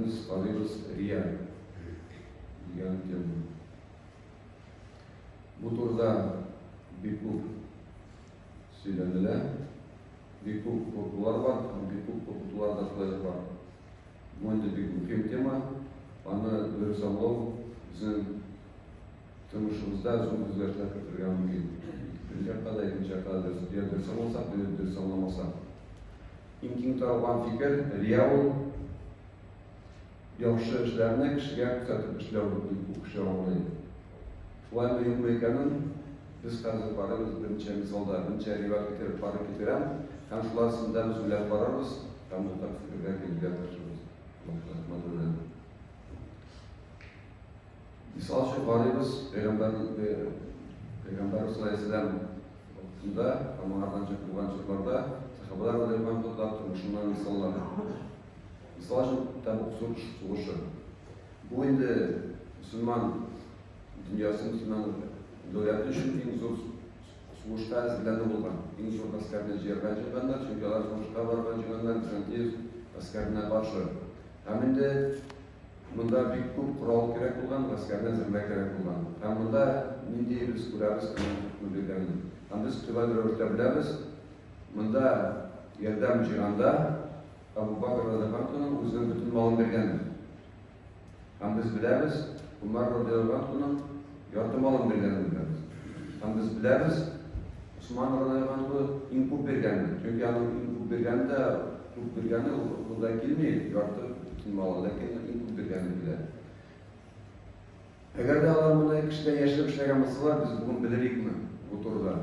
Без карыйбыз Реаль дигән теманы. Бу турыда бик күп сөйләнелә, бик күп куркулар бар, бик күп куркытулар да шулай ук бар. Бу инде бик мөһим тема, аны дөрес аңлау безнең тормышыбызда зур үзгәрешләр кертергә мөмкин. Беренче якта да, икенче якта да дөрес аңласак, дөрес аңламасак. Иң киң таралган фикер, рия ул, яхшы эшләрне кешегә күрсәтеп эшләү, дип бу кеше аңлый. Шулаймы, юкмы икәнен без хәзер карыйбыз, берничә мисалда, берничә риват китереп карый китерәм, һәм шулар өстендә без уйлап карарбыз, һәм уртак фикергә килергә тырышырбыз. Рәхмәт. Мисал өчен карыйбыз, Пәйгамбәрбез галәйһиссәлам вакытында һәм аңардан чык булган чакларда сәхабәләр белән Хода тормышыннан мисаллар. Мисал өчен Тәбук сугышы. Бу инде мөселман дөньясы, мөселман дәүләте өчен иң зур сугышка әзерләнү булган. Иң зур гаскәрне җыярга җыйганнар, чөнки алар сугышка барган җыйганнар Византия гаскәренә каршы. Һәм инде Монда бик күп корал кирәк булган, гаскәрне әзерләү кирәк булган. Һәм монда нинди без күрәбез аның күргәнен. Һәм без төгәл рәвештә беләбез, монда ярдәм җыйганда Абу Бакр радиаллаһуның үзенең бөтен малын биргәндер. Һәм без беләбез, Умар радиаллаһуның Ярты малын биргәнен беләбез. Һәм без беләбез, Усман радиоганы иң күп биргәнен. Чөнки аның иң күп биргәне дә, күп биргәне ул акылда килми, ярты бөтен малы, ләкин иң күп биргәне килә. Әгәр дә алар мондый кешедә яшереп эшләгән булсалар, без бүген белер идекме бу турыда?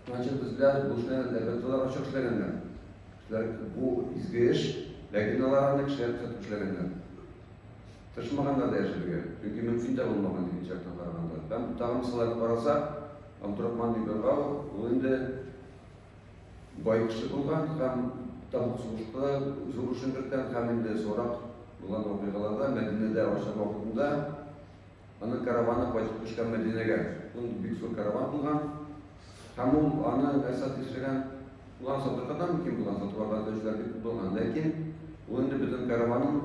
Значит, без беләбез, бу эшләрне дәүләтләр ачык эшләгәннәр. Бу изге эш, ләкин алар аны кешеләр күрсәтеп эшләгәннәр. Тырышмаганнар да яшәргә, чөнки мөмкин дә булмаган икенче яктан караганда. Һәм тагын кысаларып карасак, Абдурахман ибн Гау ул инде бай кеше булган һәм Табук сугышында зур эшен керткән һәм инде сорак булган вакыйгаларда Мәдинәдә ашар вакытында Аның караваны кайтып төшкән Мәдинәгә. Ул бик зур караван булган. Һәм ул аны нәрсә төшергән? Булган сатыркадан мөмкин булган сатуларда төшләр бик күп булган. Ләкин ул инде бөтен караванын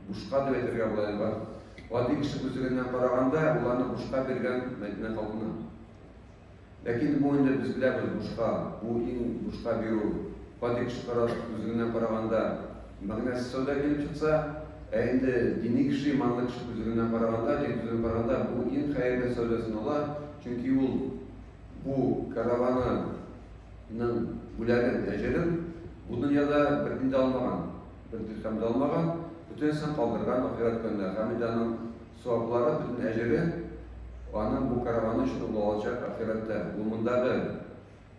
бушка дип әйтергә була инде. Гади кеше күзлегеннән караганда, ул аны бушка биргән Мәдинә халкына. Ләкин бу инде без беләбез бушка, бу иң бушка бирү. Гади кеше караш күзлегеннән караганда, мәгънәсез сәүдә килеп чыкса, ә инде дини кеше, иманлы кеше күзлегеннән караганда, дин күзлегеннән караганда, бу иң хәерле сәүдә санала, чөнки ул бу караваны ның бүләген, әҗерен бу дөньяда бер тин дә алмаган, бер дирхәм дә алмаган, бөтенесен калдырган ахирәт көненә, һәм инде аның саваплары, бөтен әҗере аның бу кәрваны өчен ул алачак ахирәттә. Ул мондагы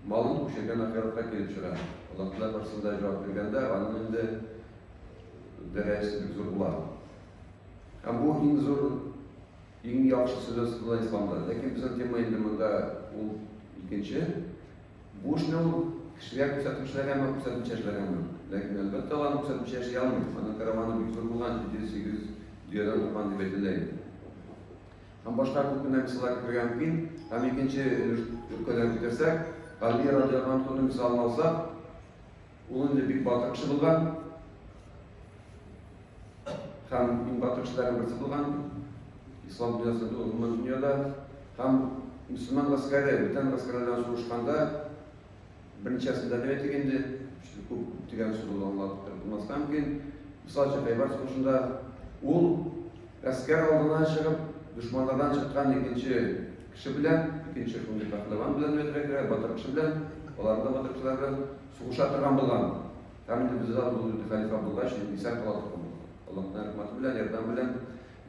малын күчергән ахиратка килеп чыга. Аллаһ Тәгалә каршысында җавап биргәндә, аның инде дәрәҗәсе бик зур була. Һәм бу иң зур, иң яхшы сүз исламда. Ләкин безнең тема инде монда ул икенче. Бу эшне ул кешегә күрсәтеп эшләгәнме, күрсәтмичә эшләгәнме? Ләкин, әлбәттә, ул аны күрсәтмичә эшли алмый. Аның кәрәваны бик зур булган, 700-800 дөядән торган дип әйтелә инде. Һәм башка күп кенә мисаллар китерергә мөмкин. Һәм икенче өлеш өлкәдән китерсәк, Галия радиоһанконы мисалын алсак, Ул инде бик батыр кеше булган. Һәм иң батыр кешеләрнең берсе булган. Ислам дөньясы гомумән дөньяда һәм мөселман гаскәре, бүтән гаскәрләрдән сугышканда берничәсендә дә әйтик инде, күп дигән сүз ул аңлап булмаска мөмкин. Мисал өчен Хәйбәр сугышында ул гаскәр алдына чыгып, дошманнардан чыккан икенче Кеше белән, икенче шундый пәһлеван белән өйрәтергә кирәк, батыр кеше белән, алар да батыр кешеләр белән сугыша торган булган. Һәм инде бездә ул инде хәлифә булгач, инде исән кала торган булган. Аллаһның рәхмәте белән, ярдәме белән.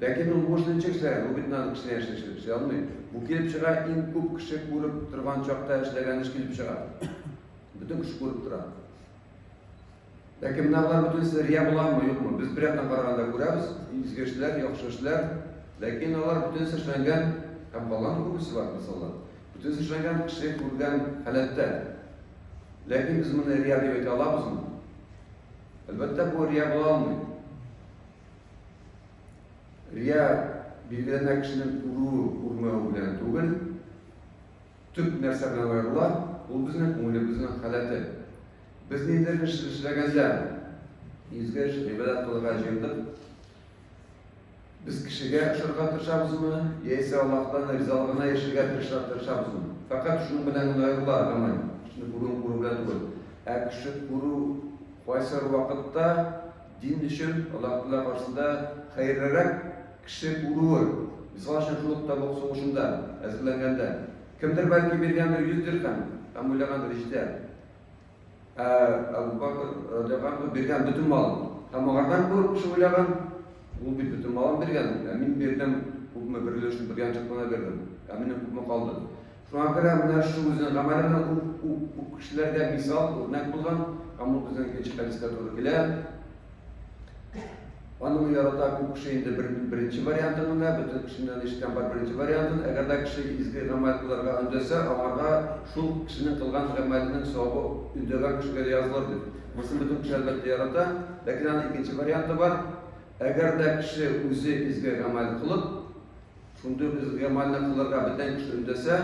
Ләкин ул буш ничек эшләгән, ул бит надо кешене яшелчә эшли алмый. Бу килеп чыга, иң күп кеше күреп торган чакта эшләгән эш килеп чыга. Бөтен кеше күреп тора. Ләкин менә болар бөтенесе рия буламы, юкмы? Без бер яктан караганда күрәбез, изге эшләр, яхшы эшләр, ләкин алар бөтенесе эшләнгән, һәм калган күбесе бар, мисаллар. Бөтенесе эшләнгән кеше күргән халәттә. Ләкин без моны рия дип әйтә алабызмы? Әлбәттә, бу рия була алмый. Рия билгеләнә кешенең күрүе, күрмәве белән түгел, Төп нәрсә белән аерыла, ул безнең күңелебезнең халәте. Без ниндидер эш эшләгәндә, изге эш, гыйбадәт кылырга җыендык, без кешегә ошарга тырышабызмы, яисә Аллаһтан ризалыгына ирешергә тырышабызмы? Фәкать шуның белән генә аерыла гамәл, кешене күрүен күрү белән түгел. Ә кеше күрү кайсы вакытта дин өчен Аллаһ Тәгалә каршында хәерлерәк Кеше күрүе, мисал өчен шул ук Табук сугышында әзерләнгәндә, кемдер бәлки биргәндер 100 дирхәм һәм уйлагандыр, җитә. Ә Әбү Бәкер, радиаллаһу анһу, биргән бөтен малын. Һәм аңардан күреп кеше уйлаган, Ул бит бөтен малын биргән, ә мин бирдем, күпме, бер өлешен бер янчык кына бирдем, ә минем күпме калды? Шуңа күрә менә шу үзенең гамәленә ук кешеләргә мисал, үрнәк булган һәм ул безнең икенче хәдискә туры килә. Аны мин ярата күп кеше инде бер, беренче вариантын гына, бөтен кешеннән ишеткән бар беренче вариантын. Әгәр дә кеше изге гамәл кылырга өндәсә, аңарга шул кешенең кылган гамәленең савабы өндәгән кешегә дә язылыр дип. Монысын бөтен кеше әлбәттә ярата, ләкин аның икенче варианты бар. Әгәр дә кеше үзе изге гамәл кылып, Шундый ук изге гамәлне кылырга бөтен кеше өндәсә,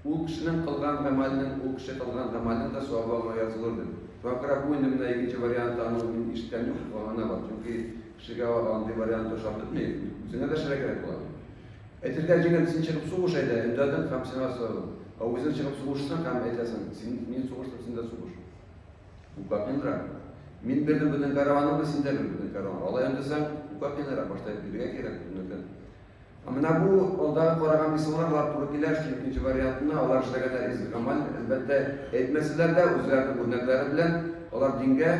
ул кешенең кылган гамәленең, ул кеше кылган гамәленең дә савабы аңа язылыр, ди. Шуңа күрә бу инде менә икенче варианты аның мин ишеткән юк, аңына бар. Чөнки кешегә андый вариант ошап бетми, үзеңә дә эшләргә кирәк була. Әйтергә җиңел, син чыгып сугыш әйдә, өндәдең һәм сиңа сорады. Ә үзең чыгып сугышсаң һәм әйтәсең, син, мин сугыштым, син дә сугыш. Укапинра. Мин белдем бүтән караваның да синдә бил бүтән караван. Алай өндәсәң, укапинра башта биргә кирәк бүтән. Ә менә бу алда караган мисаллар бар туры килә, что икенче вариантына алар эшләгәннәр из гамаль, әлбәттә, әйтмәсәләр дә үзләренең үрнәкләре белән алар дингә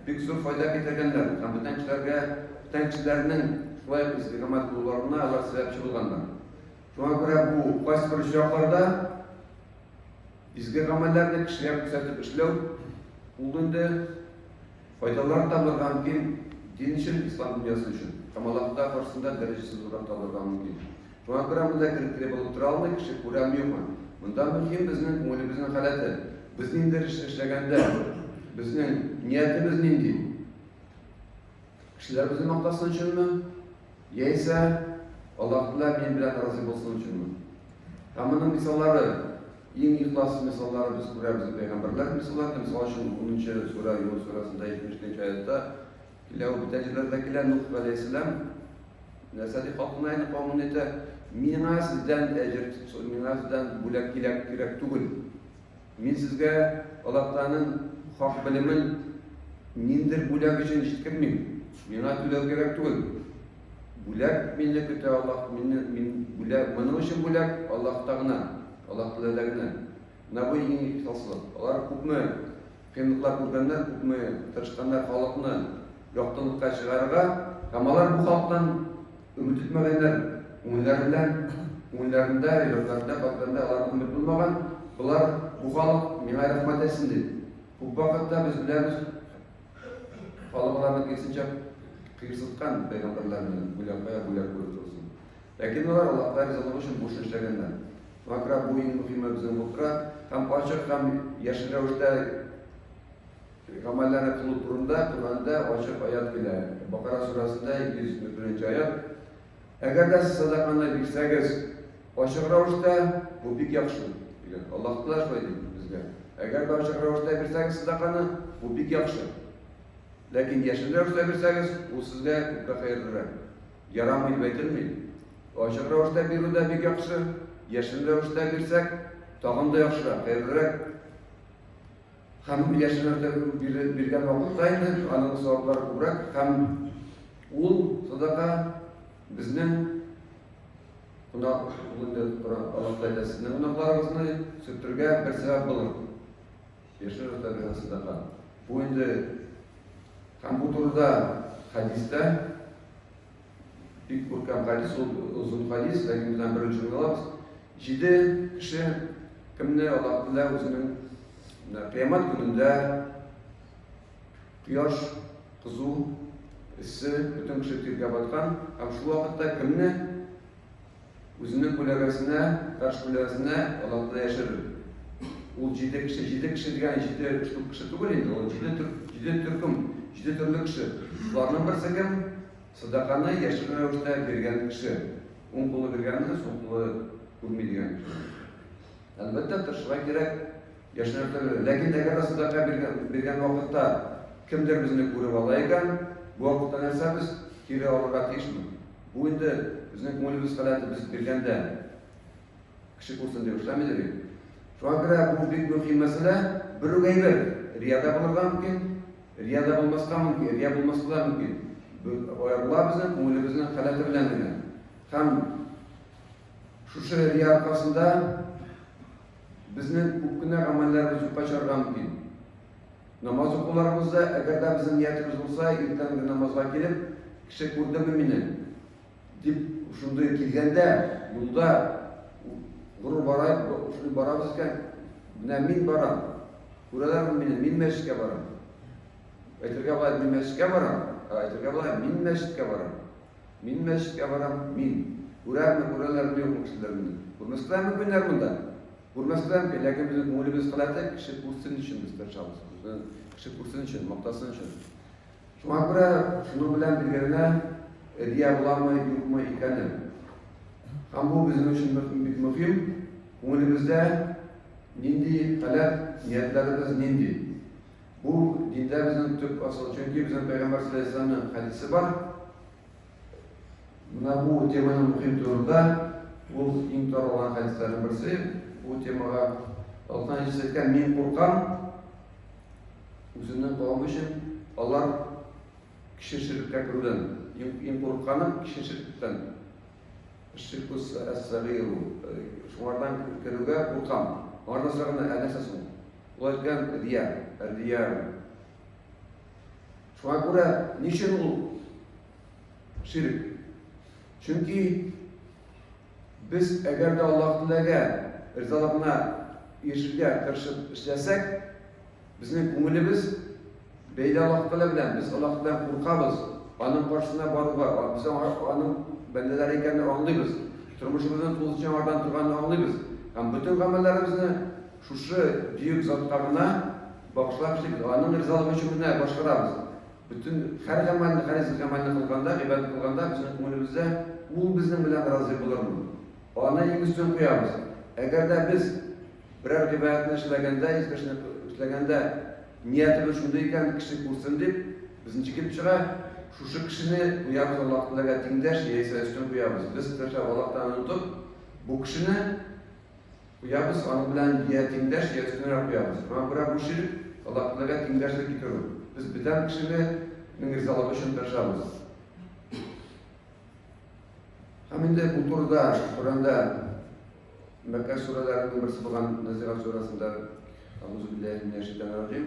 бик зур файда китергәннәр. Һәм бүтән кешеләргә, бүтән кешеләрнең шулай из гамаль булуларына алар сәбәпче булганнар. Шуңа күрә бу кайсы бер очракларда Изге гамәлләрне кешегә күрсәтеп эшләү, ул инде файдалар табырга мөмкин дин өчен, ислам дөньясы өчен һәм Аллаһыта каршысында дәрәҗәсе зуррак табырга мөмкин. Шуңа күрә монда керекле булып тора алмый кеше, күрәм-юкмы. Монда мөһим безнең күңелебезнең халәте. Без ниндидер эш эшләгәндә, безнең ниятебез нинди? Кешеләр үзен мактасын өченме? Яисә Аллаһ Тәгалә мин белән разый булсын өченме? Һәм моның мисаллары, иң ихлас мисаллары без күрәбез пәйгамбәрләр мисалларында, мисал өчен 10-нчы сүрә Юнус сүрәсендә 72-нче аятта килә, ул бүтән җирләрдә килә, Нух галәйһиссәлам нәрсә дип халкына әйтә, кавымына әйтә, миңа сездән әҗер, миңа сездән бүләк кирәк, кирәк түгел. Мин сезгә Аллаһтаның хак белемен ниндер бүләк өчен җиткермим. Миңа түләү кирәк түгел. Бүләк мине көтә Аллаһ, мине мин бүләк, моның өчен бүләк Аллаһта гына, Аллаһ теләдә генә. Менә бу иң ихласлы. Алар күпме кыенлыклар күргәннәр, күпме тырышканнар халыкны яктылыкка чыгарырга, һәм алар бу халыктан Өмет итмәгәннәр, күңелләрендә, күңелләрендә, йөрәкләрендә, калбиләрендә аларга өмет булмаган, болар, бу халык миңа рәхмәт әйтсен ди. Күп вакытта без беләбез, халык аларны киресенчә кыерсыткан, пәйгамбәрләрне бүләк, кая бүләк күреп торсын. Ләкин алар Аллаһка ризалык өчен бу эшне эшләгәннәр. Шуңа күрә бу иң мөһиме безнең булып тора һәм ачык һәм яшел рәвештә Гамәлләре кылу турында Коръәндә ачык аять килә. Бакара сүрәсендә 241 нче аять. Әгәр дә сез садаканы бирсәгез, ачык рәвештә, бу бик яхшы, дигән. Аллаһ Тәгалә шулай ди безгә. Әгәр дә ачык рәвештә бирсәгез садаканы, бу бик яхшы. Ләкин яшерен рәвештә бирсәгез, ул сезгә күпкә хәерлерәк. Ярамый дип әйтелми. Ачык рәвештә бирү дә бик яхшы, яшерен рәвештә бирсәк, тагын да яхшырак, хәерлерәк. Һәм яшьләрдә биргән вакыт саен дә аның саваплары күбрәк һәм ул садака безнең кунак булды Аллаһ Тәгалә сезнең кунакларыгызны сүтергә бер сәбәп булыр. Яшьләр дә биргән садака. Бу инде һәм бу турыда хәдистә Бик күркәм хадис ул, озын хадис, ләкин без аны беренче тыңлабыз. Җиде кеше кемне Аллаһ Тәгалә үзенең менә кыямәт көнендә кояш кызу, эссе, бөтен кеше тиргә баткан һәм шул вакытта кемне Үзенең күләгәсенә, таш күләгәсенә Аллаһтана яшерер. Ул җиде кеше, җиде кеше дигән җиде штук кеше түгел инде, ул җиде төр, җиде төркем, җиде төрле кеше. Шуларның берсе кем? Садаканы яшерен рәвештә биргән кеше. Уң кулы биргәнне, сул кулы күрми дигән кеше. Әлбәттә, тырышырга кирәк. Яшьләр төрле. Ләкин әгәр дә сәдака биргән вакытта кемдер безне күреп ала икән, бу вакытта нәрсә без кире алырга тиешме? Бу инде безнең күңелебез халәте, без биргәндә кеше күрсен дип эшләмидер бит. Шуңа күрә бу бик мөһим мәсьәлә. Бер үк әйбер, рия дә булырга мөмкин, рия дә булмаска мөмкин, рия булмаска да мөмкин. Аерыла безнең күңелебезнең халәте белән генә. Һәм шушы рия аркасында Безнең күп кенә гамәлләребез юкка чыгарга мөмкин. Намаз укуларыбызда, әгәр дә безнең ниятебез булса, иртәнге намазга килеп, кеше күрдеме мине? дип, шундый килгәндә, юлда горур бара, шундый барабыз икән, менә мин барам, күрәләрме мине, мин мәчеткә барам. Әйтергә була, мин мәчеткә барам, ә әйтергә була, мин мәчеткә барам. Мин мәчеткә барам, мин. Күрәмме, күрәләрме, юкмы кешеләр мине? Күрмәсләрме миннәр монда? Күрмәсләр микән? Ләкин безнең күңелебез кыйммәтле, кеше күрсен өчен без тырышабыз. Безнең кеше күрсен өчен, мактасын өчен. Шуңа күрә шуның белән бергә генә Рия буламы, юкмы икәне. Һәм бу безнең өчен бик мөһим. Күңелебездә нинди халәт, ниятләребез нинди? Бу диндә безнең төп асыл, чөнки безнең пәйгамбәр саллаллаһу алейһи ва сәлләмнең хәдисе бар. Менә бу теманың мөһим турында ул иң таралган хәдисләрнең берсе. Бу темага Аллаһтан җиз әйткән мин куркам үземнең кавым өчен алар кеше ширккә керүдән иң курыкканы кеше ширктән. Ширкус әс-сәгыйру. Шуңардан керүгә куркам. Аңардан сораганда, ә нәрсә соң? Алар белән Рия, Рия. Шуңа күрә ни өчен ул ширк? Чөнки без әгәр дә Аллаһ теләгә ризалыгына ирешергә тырышып эшләсәк, безнең күңелебез бәйле Аллаһ Тәгалә белән, без Аллаһ белән куркабыз, аның каршысына баруга, без аның бәндәләре икәнен аңлыйбыз, тормышыбызны тулысынча аңардан торганын аңлыйбыз һәм бөтен гамәлләребезне Шушы бөек затка гына багышлап эшлибез, аның ризалыгы өчен генә башкарабыз. Бөтен хәр гамәлне, хәр изге гамәлне кылганда, гыйбадәт кылганда безнең күңелебездә, Ул безнең белән разый булырмы? Аны иң өстен куябыз. Әгәр дә без берәр гыйбадәтне эшләгәндә, изге эшне эшләгәндә ниятебез шундый икән, кеше күрсен дип, безнче килеп чыга, шушы кешене куябыз Аллаһ Тәгаләгә тиңдәш яисә өстен куябыз. Без, беренчеләп, Аллаһ Тәгаләне онытып, бу кешене, Куябыз, аның белән йә тиңдәш, йә өстенрәк куябыз. Моңа күрә бу чир, Аллаһтәгаләгә тиңдәшлек китерү. Без бетәм кешене нең ризалыгы өчен тырышабыз. Һәм инде бу турыда Коръәндә Мәккә сүрәләренең берсе булган Назигат сүрәсендә Аузу билләһи минәш шәйтанир раҗим.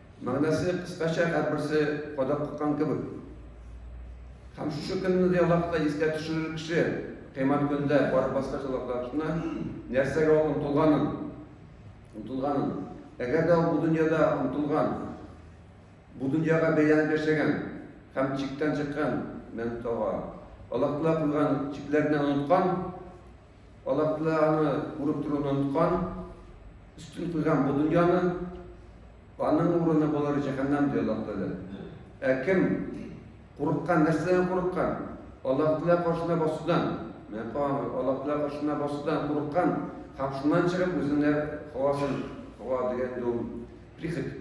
Мәгънәсе кыскача һәрберсе кадак кыккан кебек. Һәм шушы көнне дә ялакта искә төшерер кеше кыймат көндә барып баскач ялакташына нәрсәгә ул омтылганын, омтылганын. Әгәр дә ул бу дөньяда омтылган, бу дөньяга бәйләнеп яшәгән һәм чиктән чыккан мәнтога, ялактыла куйган чикләрне оныткан, Алар дөньяны күреп торуны оныткан, өстен куйган бу дөньяны, аның урыны болар җәһәннәм ди Аллаһ Тәгалә. Ә кем курыккан, нәрсәдән курыккан? Аллаһ Тәгалә каршына басудан, менә карагыз, Аллаһ Тәгалә каршына басудан курыккан һәм шуннан чыгып үзенә хавасын, хава дигән дом, прихоть,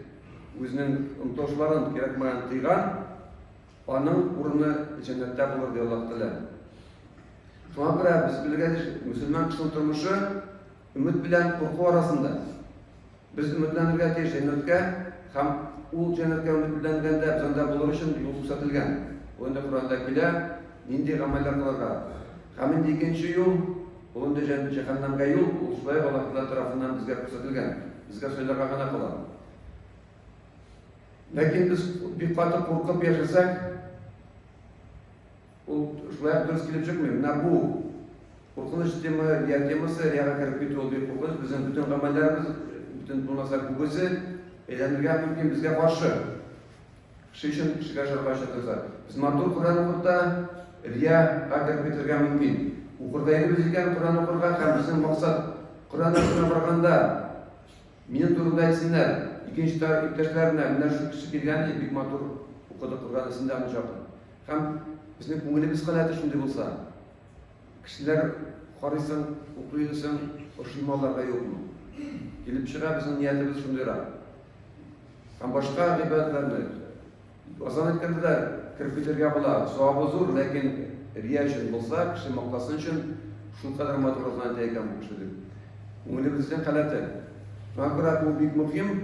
үзенең омтылышларын кирәкмәгән тыйган, Аның урыны җәннәттә булыр, ди Аллаһ Тәгалә. Шуңа күрә без белгәнчә, мөселман кешенең тормышы өмет белән курку арасында. Без өметләнергә тиеш җәннәткә һәм ул җәннәткә өметләнгәндә без анда булыр өчен юл күрсәтелгән. Ул инде Коранда килә, нинди гамәлләр кылырга. Һәм инде икенче юл, ул инде җәһәннәмгә юл, ул шулай ук Аллаһ Тәгалә тарафыннан безгә күрсәтелгән. Безгә сайларга гына кала. Ләкин без бик каты куркып яшәсәк, ул шулай ук дөрес килеп чыкмый. Менә бу куркыныч тема, рия темасы, рияга кереп китү ул бик куркыныч. Безнең бөтен гамәлләребез, бөтен булмаса күбесе әйләнергә мөмкин безгә каршы. Кеше өчен кешегә шарга чатырса. Без матур Коръән укып та рияга кереп китергә мөмкин. Укырга инебез икән Коръән укырга һәм безнең максат Коръән астына барганда Минем турымда әйтсеннәр, икенче тарап иптәшләренә, менә шушы кеше биргән ди, бик матур укыдык Коръәнне, син дә аны җак ит. Һәм безнең күңелебез халәте шундый булса, кешеләр карыйсың, укый йөрисең, ошый малларга юкмы? Килеп чыга, безнең ниятебез шундыйрак. Һәм башка гыйбадәтләрне, Азан әйткәндә дә кереп китергә була. Савабы зур, ләкин рия өчен булса, кеше мактасын өчен шул кадәр матур азан әйтә икән бу кеше дип. Күңелебезнең халәте. Шуңа күрә бу бик мөһим.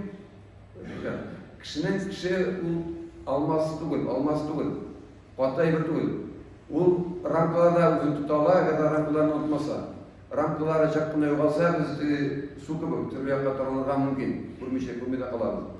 Кешенең кеше ул алмаз түгел, алмаз түгел. Каты әйбер түгел. Ул рамкаларда үзен тота ала, әгәр дә рамкаларны онытмаса. Рамкалары чак кына югалса, без су кебек төрле якка таралырга мөмкин. Күрмичә, күрми дә калабыз.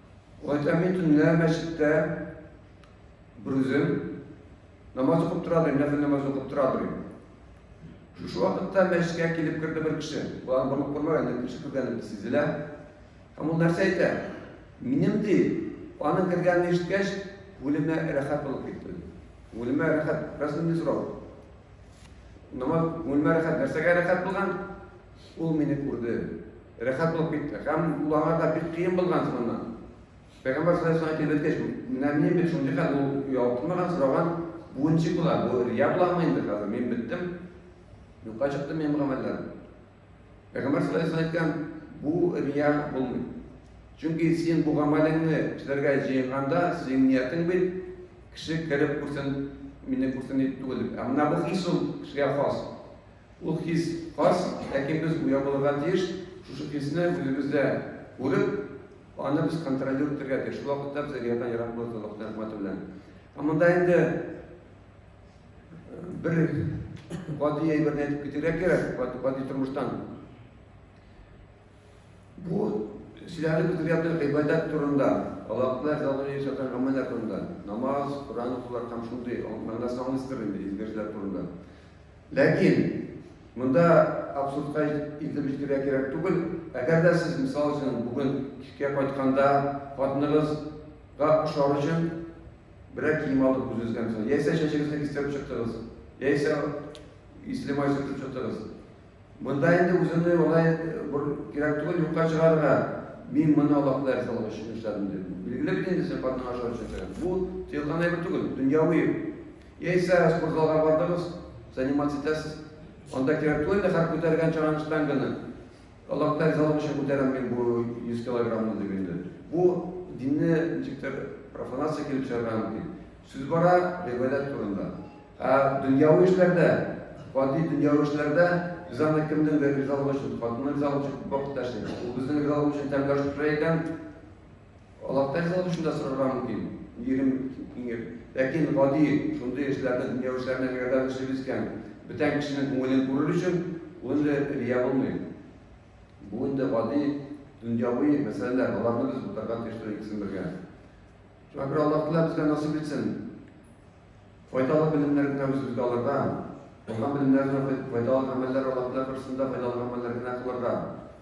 Гайтәми төнлә мәчеттә берүзем намаз укып тора дим, нәфил намаз укып тора дим. Шушы вакытта мәчеткә килеп керде бер кеше. Булан борылып күрмәгән, инде кеше күргәнен сизелә. Һәм ул нәрсә әйтә? Минем ди, аның кергәнен ишеткәч, күңелемә рәхәт булып китте. Күңелемә рәхәт, рәсмендә сорау. Намаз күңелемә рәхәт, нәрсәгә рәхәт булган? Ул мине күрде, рәхәт булып китте. Һәм ул аңа да бик кыен булган шуннан. Пәйгамбәр саллаллаһу алейһи ва сәлләм менә мин бит шундый хәл ул ялтмаган сораган буынчы була. Бу рия буламы инде хәзер? Мин беттем. Юкка чыкты минем гамәлләр. Пәйгамбәр саллаллаһу алейһи ва бу рия булмый. Чөнки син бу гамәлеңне эшләргә җыенганда, синең ниятең бит кеше кереп күрсен, мине күрсен дип түгел. Ә менә бу хис ул кешегә хас. Ул хис хас, ләкин без уяу булырга тиеш, шушы хисне үзебездә күреп, аны без контролировать итәргә тиеш. Шул вакытта без әдәбияттан ерак булырбыз Аллаһның рәхмәте белән. Ә монда инде э, бер гади әйберне әйтеп китәргә кирәк, гади тормыштан. Бу зиярәт үткәргәндә гыйбадәт турында, Аллаһка ризалыгы өчен эшләнгән гамәлләр турында, намаз, Коръән укулар һәм шундый мәгънәсен аңлыйсыздыр инде, изге эшләр турында. Ләкин монда абсурдка илтеп җитәргә кирәк түгел. Әгәр дә сез, мисал өчен, бүген кичкә кайтканда хатыныгызга ошар өчен берәр кием алып үзегезгә, мисал, яисә чәчегезне кистереп чыктыгыз, яисә исле май сөртеп чыктыгыз, Монда инде үземне алай бер кирәк түгел юкка чыгарырга. Мин моны Аллаһка да ризалык өчен эшләдем, ди. Билгеле бит инде, син хатының ашау өчен эшләгән. Бу тыелган әйбер түгел, дөньяви. Яисә спортзалга бардыгыз, заниматься итәсез. Анда кирәк түгел инде һәр күтәргән чаган штанганы. Аллаһка да ризалык өчен күтәрәм мин бу 100 килограммны дип инде. Бу динне ничектер профанация килеп чыгарга мөмкин. Сүз бара Дәүләт турында. Ә дөньяви эшләрдә, гади дөньяви эшләрдә без аны кемнеңдер ризалыгы өчен, хатынның ризалыгы өчен күп вакытта эшлибез. Ул безнең ризалыгыбыз өчен тәмле аш пешерә икән, Аллаһтан ризалыгы өчен дә сорарга мөмкин. Ирем иңеп. Ләкин гади шундый эшләрне, дөньяви эшләрне әгәр дә без эшлибез икән, бүтән кешенең күңелен күрер өчен, ул инде рия булмый. Бу инде гади дөньяви мәсьәләләр, аларны без бутарга тиеш түгел, икесен бергә. Шакир Аллаһ Тәгалә безгә насыйп итсен, файдалы белемнәр генә үзебезгә алырга, алган белемнәребезне файдалы гамәлләр Аллаһ Тәгалә каршысында файдалы гамәлләр генә кылырга.